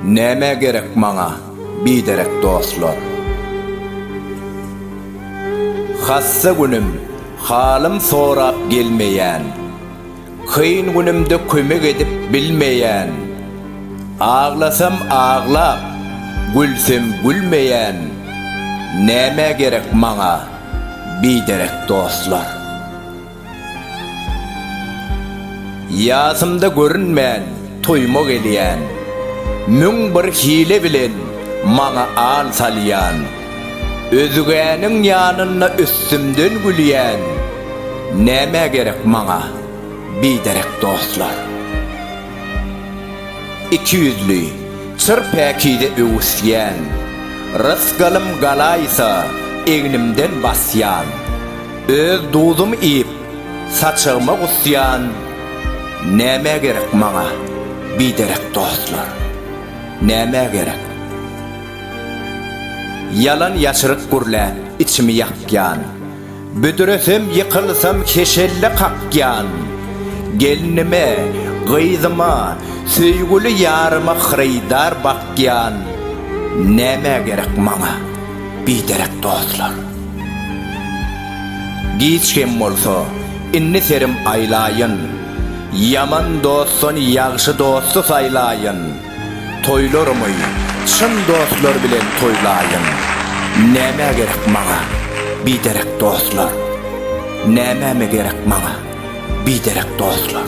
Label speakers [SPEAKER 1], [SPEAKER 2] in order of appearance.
[SPEAKER 1] Näme gerek maňa biderek dostlar? Hassa günüm, halym sorap gelmeýän. Kyn günümde kömek edip bilmeýän, Aglasam aglap, gülsem gülmeýän, Nämä gerek maňa biderek dostlar? Ýasymda görünmän toýuma gelýän, Müň bir hile bilen maňa al salýan, Özgäniň ýanynda üstümden gülýän nämä gerek maňa biderek dostlar. Ikiýüzli, çyr päkize öwüsýän, rysgalym galaýsa egnimden basýan, öz duzum iýip saçagyma gusýan nämä gerek maňa biderek dostlar. Nämä gerek. Ýalan ýaşryk gürläp içimi ýakýan, Büdresem ýykylsam heşelle kakýan. Gelnime, gyzyma, söýgüli ýaryma Hyrydar bakýan. Nämä gerek maňa biderek dostlar? Giç hem bolsa, indi serim aýlaýyn, Ýaman dostdan ýagşy dosty saýlaýyn. Toýlarymy çyn dostlar bilen toýlaýyn. Nämä gerek maňa biderek dostlar? Nämeme gerek maňa biderek dostlar?